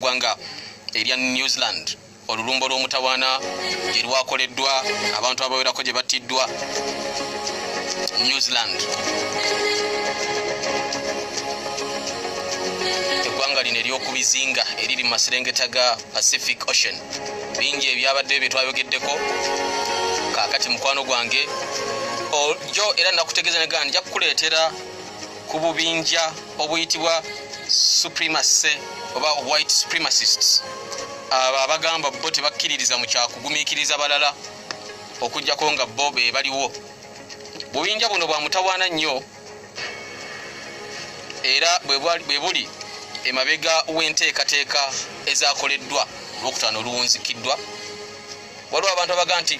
gwanga erya New Zealand olulumbo lw'omutawaana gye lwakoleddwa abantu abawerako gye battiddwa New Zealand eggwanga lino ery'oku bizinga eriri mu maserengeta ga Pacific Ocean bingi ebyabaddeyo bye twayogeddeko kaakati mukwano gwange ojo era nakutegeeza negana nja kukuleetera ku bubinja obuyitibwa supremacy oba white supremacists abo abagamba bo tebakkiririza mu kyakugumiikiriza balala okujjako nga bo be baliwo bubinja buno bwa mutawaana nnyo era bwe buli emabega w'enteekateeka ezakoleddwa olwokutaano oluwunzikiddwa waliwo abantu abaga nti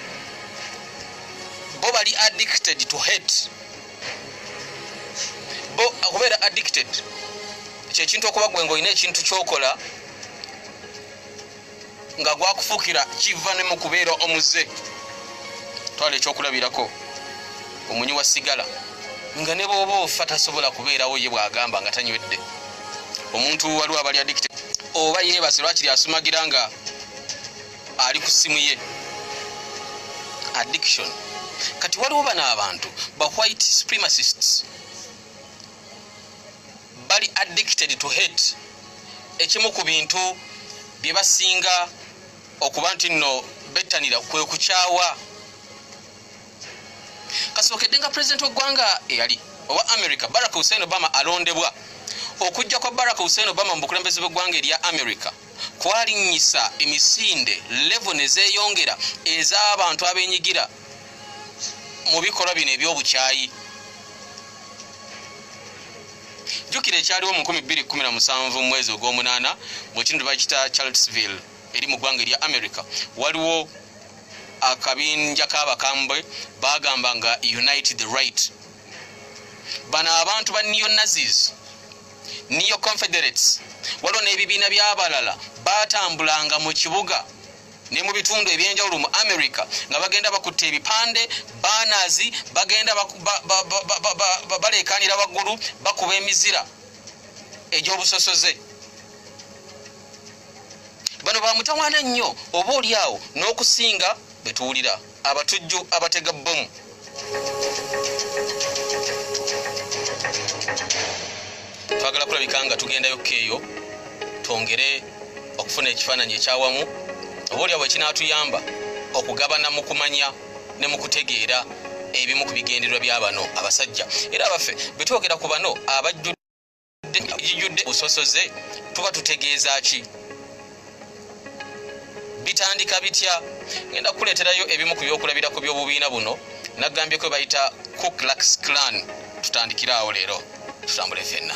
bo bali addicted to hate bo okubeera addicted kyekintu okuba gwe ngaolina ekintu kyokola nga gwakufukira kiva ne mu kubeera omuze twala ekyokulabirako omunyi wa sigala nga ne bwoba ofa tasobola kubeerawo ye bwagamba nga tanywedde omuntu waliwo abali addicted oba yeebase lwakiri asumagira nga ali ku simu ye addiction kati waliwo bano abantu ba white supremacists bali addicted to hate ekimu ku bintu bye basinga okuba nti nno bettanira kwe kukyawa kasookedde nga pulezidenti w'eggwanga eyali owa america barack hussein obama alondebwa okujja kwa barack hussein obama mu bukulembeze bw'eggwanga erya america kwalinnyisa emisinde levo ne zeeyongera ez'abantu abenyigira mu bikolwa bino eby'obukyayi jjukira ekyaliwo mu 217 mu mwezi ogw'omunaana mu kintu bakita charlesville eri mu ggwanga erya america waliwo akabinja k'abakambwe bagamba nga unite the right bano abantu ba neonazis neo confederates waliwo n'ebibiina by'abalala baatambulanga mu kibuga ne mu bitundu ebyenjawulo mu america nga bagenda bakutte ebipande baanazi bagenda baleekaanira waggulu bakuba emizira egy'obusosoze bano bamutawaana nnyo oba oli awo n'okusinga betuwulira abatujju abatega bbomu twagala kulabika nga tugendayo keeyo twongere okufuna ekifaananyi ekyawamu oba olyawo ekinaatuyamba okugabana mu kumanya ne mu kutegeera ebimu ku bigendererwa bya bano abasajja era abaffe bwe twogera ku bano abajju gijudde musosoze tuba tutegeeza ki bitandika bitya ngenda kukuleeterayo ebimu ku byokulabira ku byobubiina buno nagambye kwe bayita cooklax clan tutandikire awo leero tutambule fenna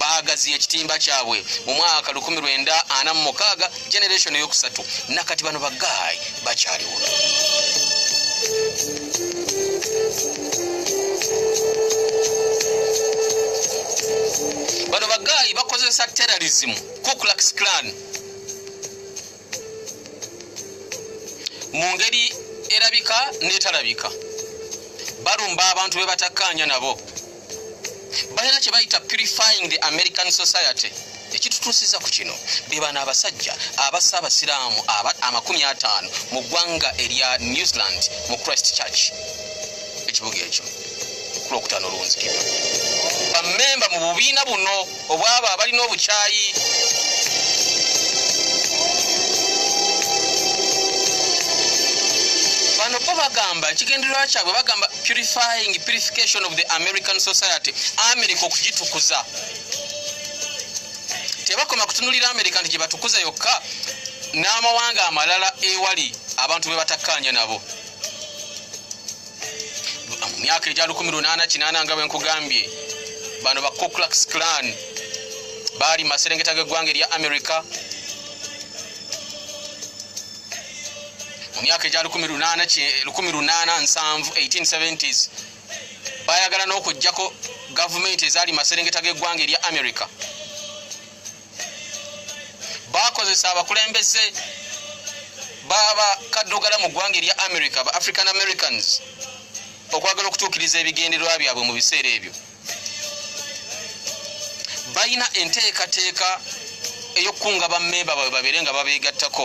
baagaziya ekitimba kyabwe mu mwaka 1946 generation eyokusatu nakati bano bagaayi bakyaliwo bano bagaayi bakozesa terrorism kuclax clan mu ngeri erabika n'etalabika balumba abantu be batakkaanya nabo balina kye bayita purifying the american society ekitutuusiza ku kino be bano abasajja abassa abasiraamu amakumi ataano mu ggwanga erya new zealand mu christ church ekibuga ekyo kulwokutaano olwonzikibwa bamemba mu bubiina buno obwabo abalina obukyayi bano bo bagamba ekigendererwa kyabwe bagamba purifying purification of the american society america okugitukuza tebakoma kutunulira america nti gyebatukuza yokka n'amawanga amalala ewali abantu bebatakkaanya nabo mu myaka egya 18 nga bwenkugambye bano ba coclax clan baali maserengeta g'eggwanga erya america mu myaka egya 1870s bayagala n'okugjako gavumenti ezaali maserengeta g'eggwanga erya america bakozesa abakulembeze baba kaddugala mu ggwanga erya america ba african americans okwagala okutuukiriza ebigendererwa byabwe mu biseera ebyo balina enteekateeka eyokukunga bammemba babwe babeere nga babeegattako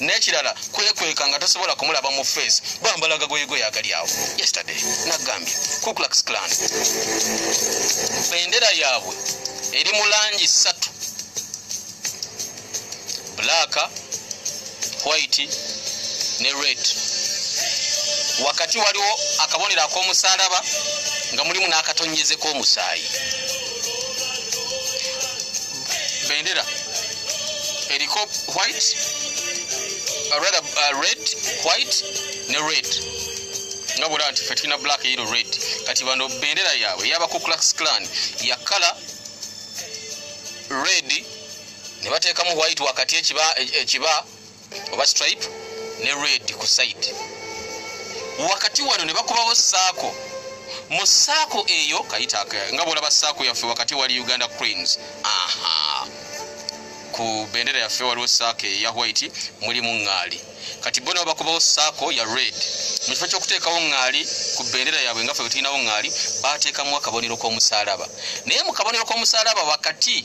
nekirala kwekweka nga tosobola kumulaba mu face bambala gagoyego yagali awo yesterday nagambye kuclax clan bendera yaabwe eri mu langi ssatu black white ne red wakati waliwo akabonero ak'omusalaba nga mulimu n'akatonyeze k'omusaayi bendera eriko white uh, rather uh, red white ne red nga bwolaba nti fe tulina black eyiro red kati bano bendera yaabwe eyabakukulax clan ya kala red ne bateekamu white wakati ekiba, ekiba oba stripe ne red ku side wakati wano ne bakubawo saako mu saako eyo kayita nga bwolaba saako yaffe wakati wali uganda cranes aha ku bendera yaffe waliwo saako eya white mulimu ŋŋaali kati bo nabo bakubawo saako ya red mu kifo kyokuteekawo ŋŋaali ku bendera yaabwe nga fe bwe tulinawo ŋŋaali baateekamu akabonero k'omusaalaba naye mu kabonero k'omusaalaba wakati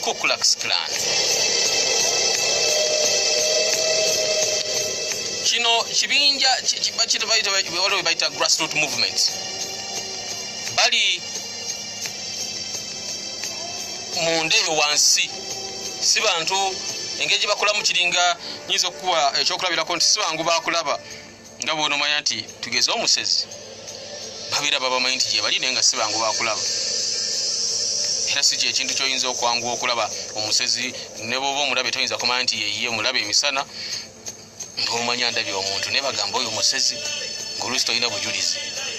Ku Klux Klan. Kino kibinja waliwo webayita grassroot movement bali munda eyo wansi si bantu engeri gye bakolamu kiringa nyinza okukuwa ekyokulabirako nti si bangu bakulaba nga bwonomanya nti tugeze omusezi babeera babamanyi nti gyebali naye nga sibangu bakulaba era si kyekintu kyoyinza okwangu okulaba omusezi neboba omulabe toyinza kumanya nti yeye omulabe emisana ngaomanya ndabye omuntu naye bagamba oyo omusezi ngaolusi tolina bujulizi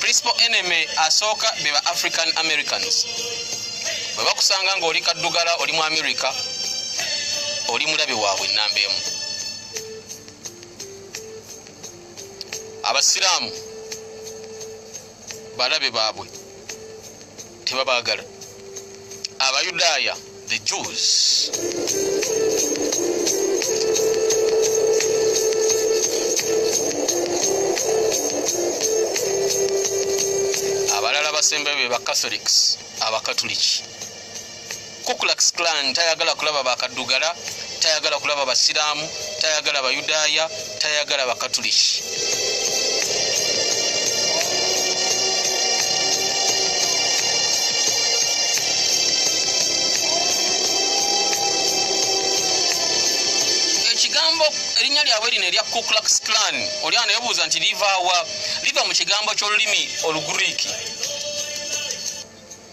principal enemy asooka be ba african americans bwe bakusanga nga oli kaddugala oli mu america oli mulabe waabwe enamba emu abasiraamu balabe baabwe tebabagala abayudaaya the jews abalala basembayo be bacatholics abakatuliki kukulaks clan tayagala kulaba bakaddugala tayagala kulaba basiraamu tayagala bayudaaya tayagala bakatuliki erinnya lyabwe lino erya kuklux clan oli ano yebuuza nti livaawa liva mu kigambo ky'olulimi olugriiki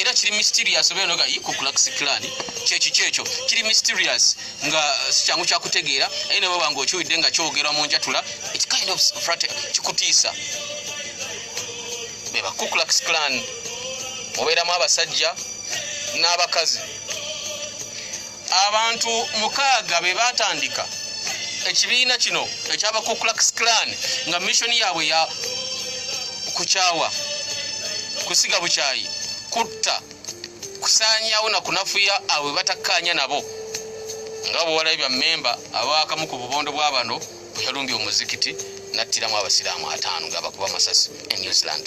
era kiri mysterious obeera noga yi ku kulax clan kyeki kyekyo kiri mysterious nga sikyangu kyakutegeera aye nabo bange okiwidde nga kyogerwa mu njatula it kind of frat kikutiisa beba ku kulax clan obeeramu abasajja n'abakazi abantu mukaaga be baatandika ekibiina kino ekyabakuklax clan nga missioni yaabwe ya kukyawa kusiga bukyayi kutta kusaanyawo na kunafuya abwe batakkaanya nabo nga bwewalabye bya memba abaakamu ku bubondo bwa bano bwe yalumbye omuzikiti n'attiramu abasiraamu ataano nga bakuba masasi e new zealand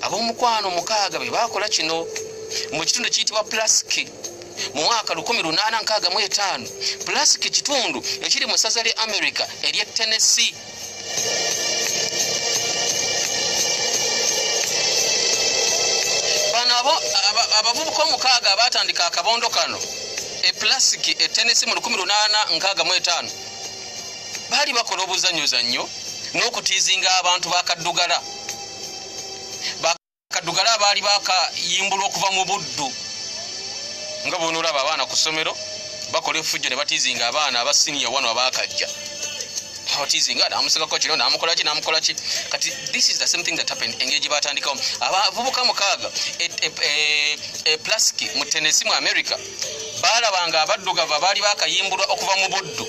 ab'omukwano mukaaga be baakola kino mu kitundu ekiyitibwa plasiki mu mwaka 1865 plasiki kitundu ekiri mu ssaza lya america ery'e tennessee abo abavubuka omukaaga abaatandika akabondo kano eplasiki etenesi mu 1865 baali bakola obuzanyozannyo n'okutiizinga abantu bakaddugala bakaddugala abaali bakayimbulwa okuva mu buddu nga bonoolaba abaana ku ssomero bakola efujjo ne batiizinga abaana aba siniya wano abaakajja otizinga namusigako kino namukolaki namukolaki kati this is the same thing that happened engeri gye batandikawo abavubuka mukaaga e, e, e, e plasiki mu tenesi mu america baalaba nga abaddugavu abaali bakayimbulwa okuva mu buddu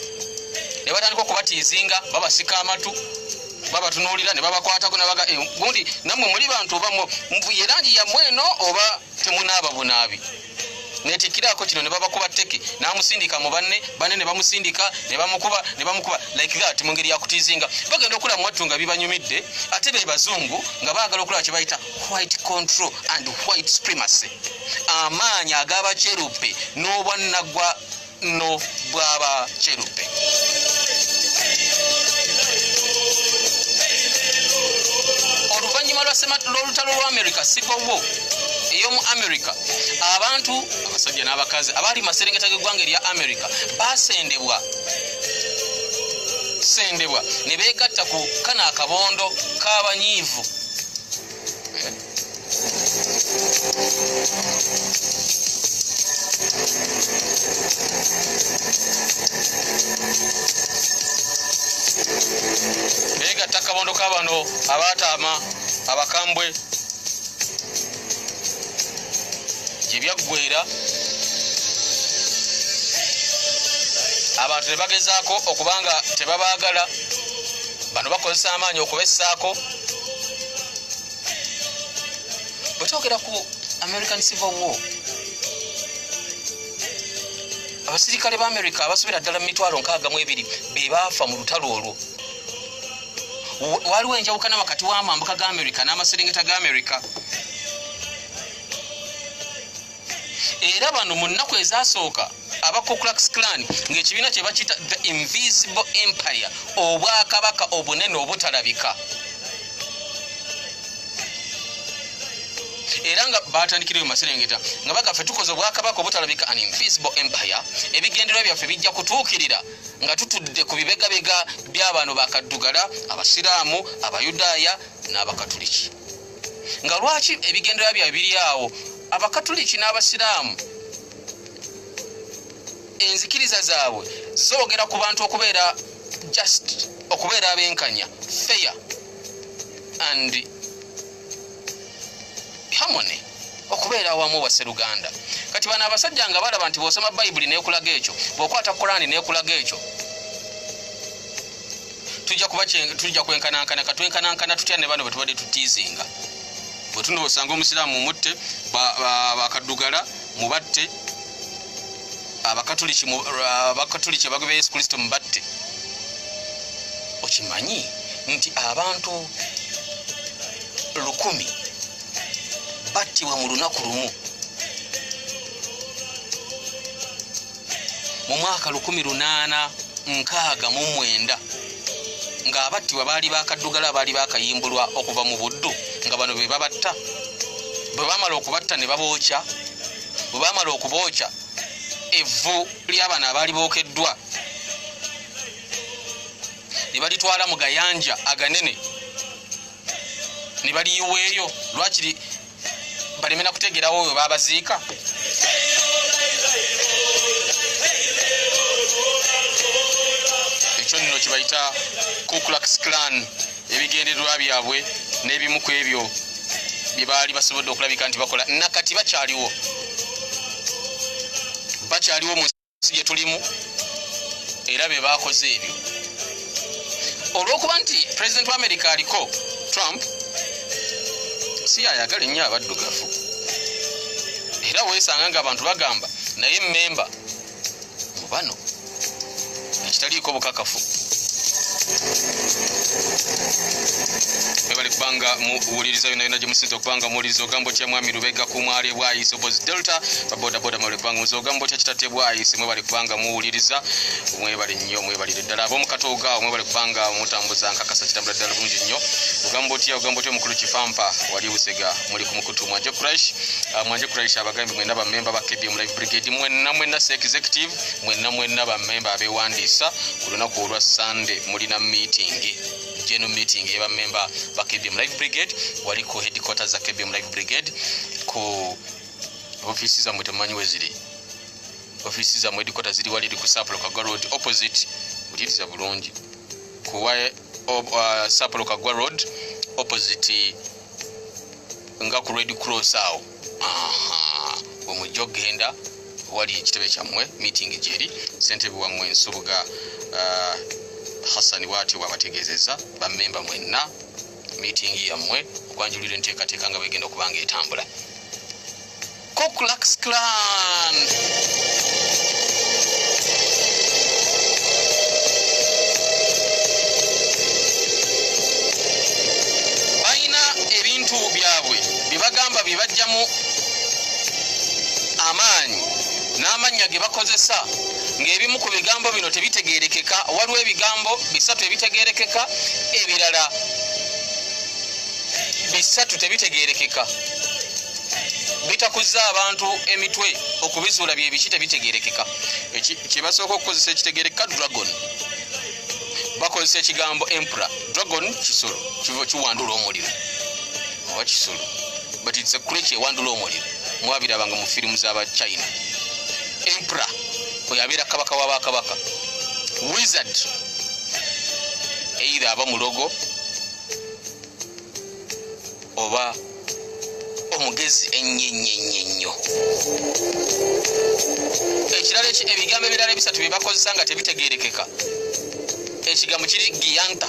ne batandika okubatiizinga babasika amatu babatunuulira ne babakwatako nabaga eh, gundi nammwe muli bantu oba muvuye langi yammwe eno oba temunaaba bunaabi netikirako kino nebabakuba teke namusindika mubanne bane nebamusindika nebamukuba nebamukuba like that mungeri yakutizinga bagenda okula mwattu nga bibanyumidde ate bebazungu nga bagala okulaba kyebayita white control and white supremacy amaanyi ag'abakyerubbe n'obwannagwa no bw'abakyerubbe oluvannyuma lw'olutalo lwa america sigowo ey'omu america abantu abasajja n'abakazi abaali maserengeta g'eggwanga erya america baasendebwa sendebwa ne beegatta ku kana akabondo k'abanyiivu abaataama abakambwe gye byaggwera abantu ne bagezaako okuba nga tebabaagala bano bakozesa amaanyi okubessaako bwetwogera ku american civil war abasirikale ba america abasobera ddala mu mitwalo nkaaga mu ebiri be baafa mu lutalo olwo waliwo enjawukana wakati w'amambuka ga america n'amaserengeta ga america era bano mu nnaku ezasooka aba kuclax clan ng'ekibiina kye bakiyita the invisible empire obwakabaka obunene obutalabika era nga batandikirayo maserengeta nga bagafe tukoze obwakabaka obutalabika an invisible empire ebigendererwa byaffe bijja kutuukirira nga tutudde ku bibegabega by'abantu bakaddugala abasiraamu abayudaaya n'abakatuliki nga lwaki ebigendera bya biri awo abakatuliki n'abasiraamu enzikiriza zaabwe zoogera ku bantu okubeera just okubeera abenkanya fair and harmony okubeera awamu waseruganda kati bano abasajja nga balaba nti bwosoma bayibuli nekulaga ekyo bwokwata kurani nekulaga ekyo tujja kuba tujja kwenkanankana katwenkanankana tutya ne bano betubadde tutiizinga bwetuno osanga omusiraamu mutte bakaddugala mubatte abakatuliki abagobya yesu kristo mubatte okimanyi nti abantu lukumi battibwa mu lunaku lumu mu mwaka 1869 ng'abattibwa baali bakaddugala abaali bakayimbulwa okuva mu buddu nga bano be babatta bwe bamala okubatta ne babookya bwe bamala okubookya evvu ly'abano abaali bookeddwa ne balitwala mu gayanja aganene ne baliyiweeyo lwakiri balemena kutegerawo oyo babaziika ekyo nno kibayita kuclax clan ebigendererwa byabwe n'ebimu ku ebyo bye baali basobodde okulabika nti bakola nakati bakyaliwo bakyaliwo si gye tulimu era be baakoze ebyo olw'okuba nti pulezidenti wa amerika aliko trump si yayagala ennyo abaddugavu era weesanga nga abantu bagamba naye memba mu bano ekitaliiko bukakafu ebali kubanga muwuliriza yona yona gyemusinza okubanga muwuliriza ogambo kya mwami lubega kumwali bwayiso bozi delta babodaboda kubanga muze ogamba otya kitate bwayise mwebale kubanga muwuliriza mwebale nnyo mwebalire ddala abomukatooga mwebale kubanga mutambuza nkakasa kitambula ddala bulungi nnyo ogamba otya ogamba otya omukulu kifampa wali busega muli ku mukutu mwanje crash ah, mwanje crash abagambi mwena bamemba ba kdm live brigade mwena mwena se executive mwena mwena bamemba abewandiisa ku lunaku olwa sunday mulina miitingi general meeting yeba member ba KBM Life Brigade waliko headquarters za KBM Life Brigade ku ofiisi zammwe temumanyi we ziri ofiisi zammwe edikota ziri wali eri ku sapolo kagwa road opposite ulyiriza bulungi kuwa uh, sapolo kagwa road opposite nga ku red cross awo omujja okugenda wali ekitebe kyammwe meeting gyeri sentebe wammwe ensubuga uh, hassani bwatyo bwabategeezeza bamemba mwenna miitingi yammwe okwanjulira enteekateeka nga bwegenda okuba nga etambula koklaxclan balina ebintu byabwe bye bagamba bye bajjamu amaanyi n'amannya ge bakozesa ng'ebimu ku bigambo bino tebitegeerekeka waliwo ebigambo bisatu ebitegeerekeka ebirala bisatu tebitegeerekeka bitakuzza abantu emitwe okubizuula byebiki tebitegerekeka kyebasooka okukozesa ekitegereka dragon bakozesa ekigambo empura dragon kisolo kiwandula omuliro oba kisolo but it's a crech ewandula omuliro mwabirabanga mu firimu zaba china empera oyo abeera kabaka wabakabaka wizard either aba mulogo oba omugezi ennyennyennyo ekirala ebigambo ebirala ebisatu bye bakozesa nga tebitegeerekeka ekigambo kiri giyanta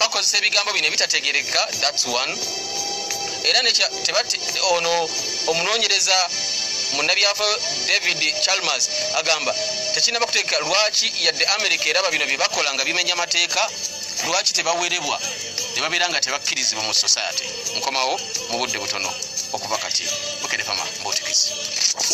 bakozesa ebigambo bino ebitategereka thats one era tebati ono omunonyereza munabyafa david chalmers agamba tekinaba kutegeka lwaki yadde america eraba bino byebakola nga bimenya amateeka lwaki tebawerebwa nebabeera nga tebakkirizibwa mu society nkomawo mu budde butono okuva kati bukedefama mbutikisi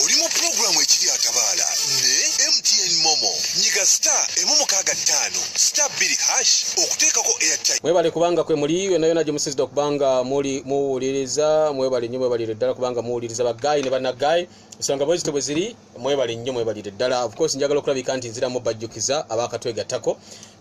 oli mu pulogulaamu ekiri atabaala ne mtn momo nyiga sta emu mukaaga ttaano sta bbiri hash okuteekako airtime mwebale kubanga kwe muli yona yona gye musizidde okubanga muli muwuliriza mwebale nnyo mwebalire ddala kubanga muwuliriza bagayi ne banagayi ensonga bwezito bwe ziri mwebale nnyo mwebalire ddala of course njagala okulabika nti nziramu bajjukiza abakatwegattako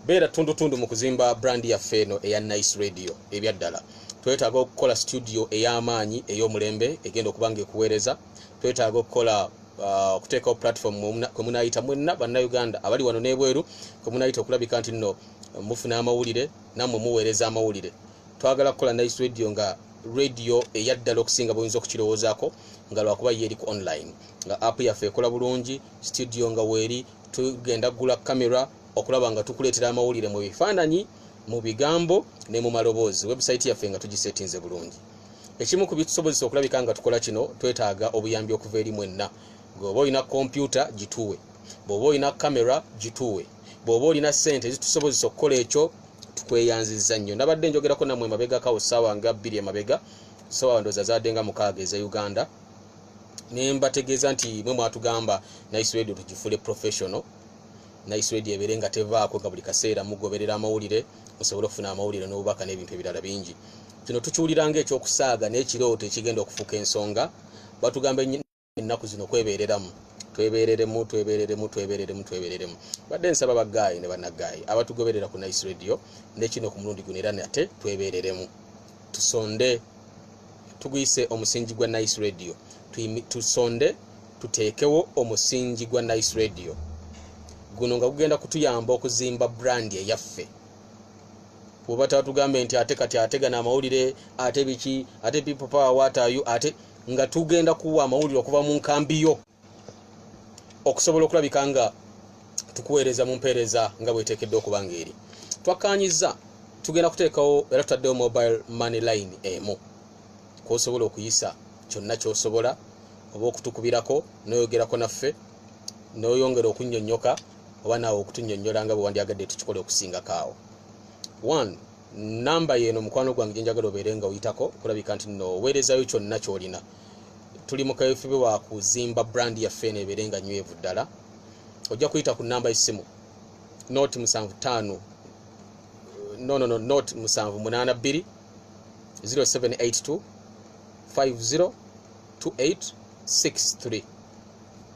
beera tundutundu mu kuzimba brand yaffe eno eya nice radio ebyaddala twetaaga okukola studio ey'amaanyi ey'omulembe egenda okuba nga ekuweereza twetaaga okukola uh, okuteekawo platform kwe munaayita mwenna bannauganda abali wano n'ebweru kwe munaayita okulabika nti nno mufuna amawulire nammwe muweereza amawulire twagala kukola nice radio nga radio eyaddala okusinga buyinza okukirowoozaako nga lwakuba yeeri ku online nga app yaffe ekola bulungi studio nga weeri tugenda kugula camera okulaba nga tukuleetera amawulire mu bifaananyi mu bigambo ne mu maloboozi website yaffe nga tugisetinze bulungi ekimu ku bitusobozesa okulabika nga tukola kino twetaaga obuyambi okuva eri mwenna gweoba olina kompyuta gituwe bw'oba olina kamera gituwe bw'oba olina ssente ezitusobozesa okukola ekyo tukweyanziza nnyo nabadde njogerako namwe emabegakawo ssaawa nga bbiri emabega ssaawa ndoza zaadde nga mukaaga eze uganda nembategeeza nti mwe mwatugamba nice radio tugifule professional nice radio ebeere nga tevaako nga buli kaseera mugoberera amawulire musobole okufuna amawulire n'obubaka n'ebintu ebirala bingi kino tukiwulira nga ekyokusaaga n'ekirooto ekigenda okufuuka ensonga batugamba ennaku zino kwebeereramu twebereremu twebereremu twebereremu twebereremu badde nsaba bagaayi ne banagaayi abatugoberera ku nice radio nekino ku mulundi guno era nate twebereremu tusonde tuguyise omusingi gwa nice radio tusonde tuteekewo omusingi gwa nice radio guno nga gugenda kutuyamba okuzimba brandi eyaffe kuba tatugambe nti ate kati ate gana amawulire ate biki ate people power watayu ate nga tugenda kuwa amawulire okuva mu nkambi yo okusobola okulabika nga tukuweereza mu mpeereza nga bweteekeddwa okuba nga eri twakkaanyizza tugenda kuteekawo era tutaddewo mobile money line emu kwosobola okuyisa kyonna kyosobola oba okutukubirako noyogerako naffe noyongera okunyonyoka oba naawe okutunyonyola nga bwewandyagadde tukikole okusingako awo one namba yeeno mukwano gwange gyenjagala obeere nga oyitako okulabika nti noweerezayo kyonna kyolina tuli mu kaweefube wa kuzimba brand yaffe eno ebeere nga nywevu ddala ojja kuyita ku namba essimu not musanvu taano no no no not musanvu munaana bbiri 0782 50 28 63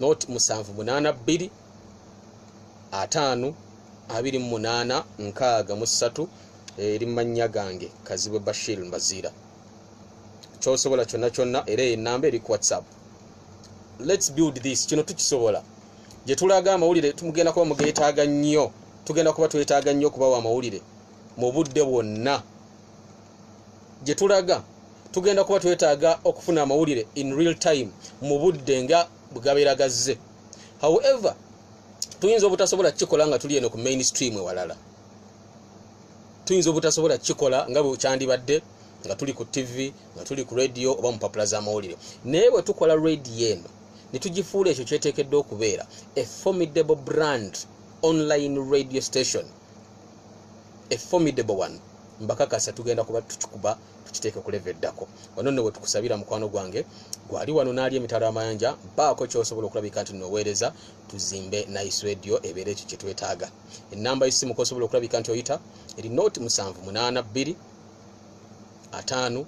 not musanvu munaana bbiri ataano abiri mu munaana nkaaga mu ssatu eri mannya gange kazibwe bashir mbaziira kyosobola kyonna kyonna era eyo enamba eri ku whatsapp lets build this kino tukisobola gye tulaga amawulire tumugenda kuba mugeetaaga nnyo tugenda kuba twetaaga nnyo okubawa amawulire mu budde bwonna gye tulaga tugenda kuba twetaaga okufuna amawulire in real time mu budde nga bwegabeera gazze however tuyinza obutasobola kukikola nga tuli eno ku mainstream ewalala tuyinza obutasobola kukikola nga bwe kyandibadde nga tuli ku ttivi nga tuli ku rediyo oba mu mpapula z'amawulire naye bwe tukola rediyo eno ne tugifuula ekyo kyeteekeddwa okubeera a formidable brand online radio station a formidable one mbakakasa tugenda kuba tukikuba tukiteeke ku leve eddako wano nno bwe tukusabira mukwano gwange gwali wano n'ali emitalo amayanja baako kyosobola okulabika nti noweereza tuzimbe nice radio ebeera ekyo kye twetaaga enamba yesimu kosobola okulabika nti oyita eri not 782 atano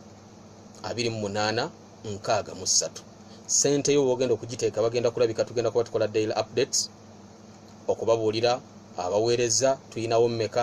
28 nkaaga mu ssatu sente yo wogenda okugiteeka bagenda kulabika tugenda kuba tukola daily updates okubabuulira abaweereza tuyinawo mmeka